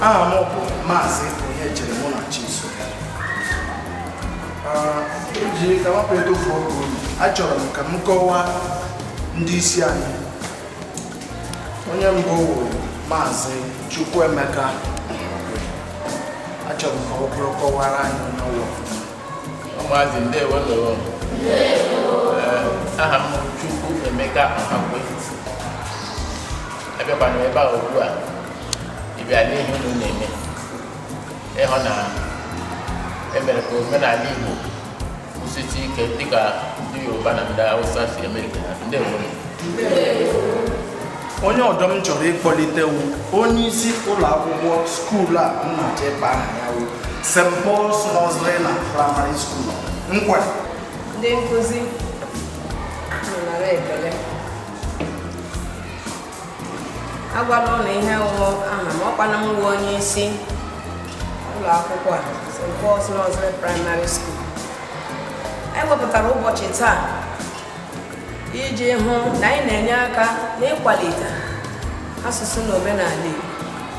aha m bụ maazị Onyechere Munachiso eji ka m hapụ ịtụfu oge achọrọ m ka m kọwaa ndị isi anyị onye mbụ bụ maazị Chukwuemeka achọrọ m ka ọ kọwara anyị onwe ya maazị ndewo ndewo aha m Chukwuemeka Ọhakwe abịakwara m ebe a ugbu a ịbịa lee ihe unu na-eme ịhụ na emere ka omenala Igbo kwụsịtụ ike dịka ndị Yoruba na ndị Hausa si eme nke ha ndewo onye ọdọ m chọrọ ịkpọlite wụ onye isi ụlọ akwụkwọ skuul a m na-achọ ịkpọ aha ya wụ St. Paul's Nursery na Primary School Nkwerre ndị nkụzi nara ekele agwala unu ihe wụ aha m ọkwana m wụ onye isi ụlọ akwụkwọ a St. Paul's Nursery Primary School anyị wepụtara ụbọchị taa iji hụ na anyị na-enye aka n'ịkwalite asụsụ na omenala Igbo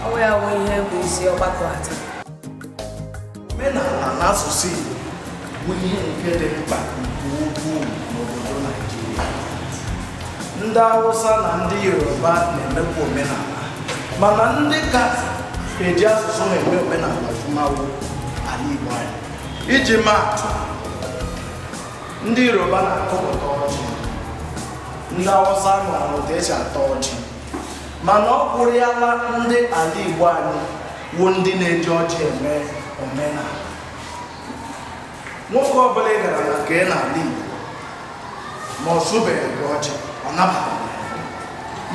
ọ wụ ya wụ ihe bụ isi ọgbakọ a taa omenala na asụsụ Igbo bụ ihe nke dị mkpa nke ukwuu n'obodo Naijiria ndị Hausa na ndị Yoruba na-emekwa omenala mana ndị ka eji asụsụ na-eme omenala ọfụma wụ ala Igbo anyị iji maa atụ ndị yoruba na-akọpụta ọjị ndị awụsa mara otu esi ata ọjị mana ọ kwụrịala ndị ala igbo anyị wụ ndị na-eji ọjị eme omenala nwoke ọbụla ị gara na nke ya n'ala igbo ma ọ sụbeghị gị ọjị ọ nabataghị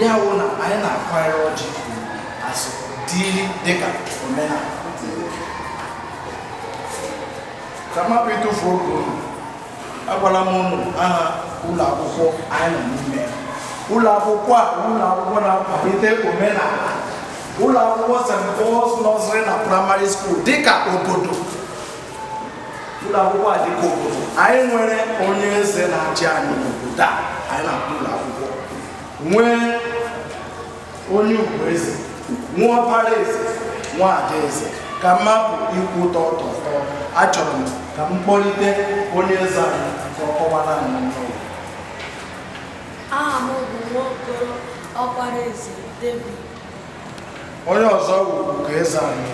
ya wụ na anyị na-akwanyere ọjị asọ dịrị dịka omenala ka m hapụ ịtụfu oge unu agwala m unu aha ụlọ akwụkwọ anyị nọ n'ime ya. ụlọ akwụkwọ a bụ ụlọ akwụkwọ na-akwalite omenala ụlọ akwụkwọ St. Paul's Nursery na Primary School dịka obodo ụlọ akwụkwọ a dịka obodo anyị nwere onye eze na-achị anyị n'obodo a anyị na-akpọ ụlọ akwụkwọ nwere onye ugoeze nwa ọkpara eze nwa ada eze ka m hapụ ikwu ọtụtụ okwu achọrọ m ka m kpọlite onye eze anyị ka ọ kọwaara anyị onwe ya aha m bụ nwaokoro ọkpara eze david onye ọzọ wu ugoeze anyị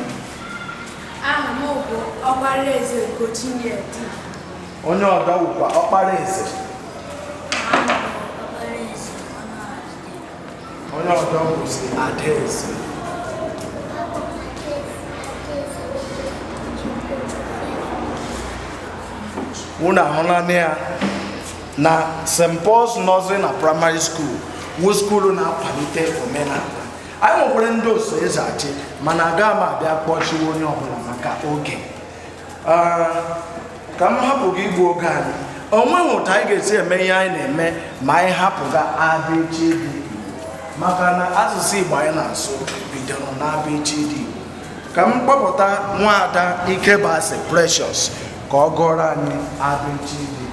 aha m bụ ọkpara eze ugochinyere onye ọdọ wukwa ọkpara eze onye ọdọ bụzi adaeze unu ahụlanụ ya na st paul's nursery na primary school wu skuulu na-akwalite omenala anyị nwekwara ndị oso eze achị mana agaghị m abịa kpọchiwe onye ọbụla maka oge Ah, ka m hapụ ga igbu oge anyị o nweghị otu anyị ga-esi eme ihe anyị na-eme ma anyị hapụ ga abịchịdị Igbo. maka na asụsụ Igbo anyị na-asụ bidoro n'abịchịdị Igbo. ka m kpọpụta nwaada Ikebasi Precious ka ọ gụọrọ anyị abịchịdị Igbo.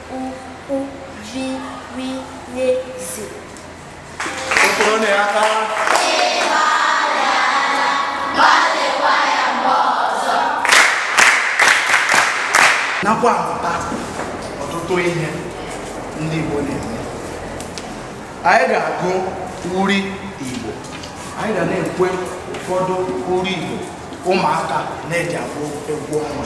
nakwa amụta ọtụtụ ihe ndị Igbo na-eme anyị ga-agụ uri Igbo anyị ga na-ekwe ụfọdụ uri Igbo ụmụaka na-eji agụ egwu ọnwa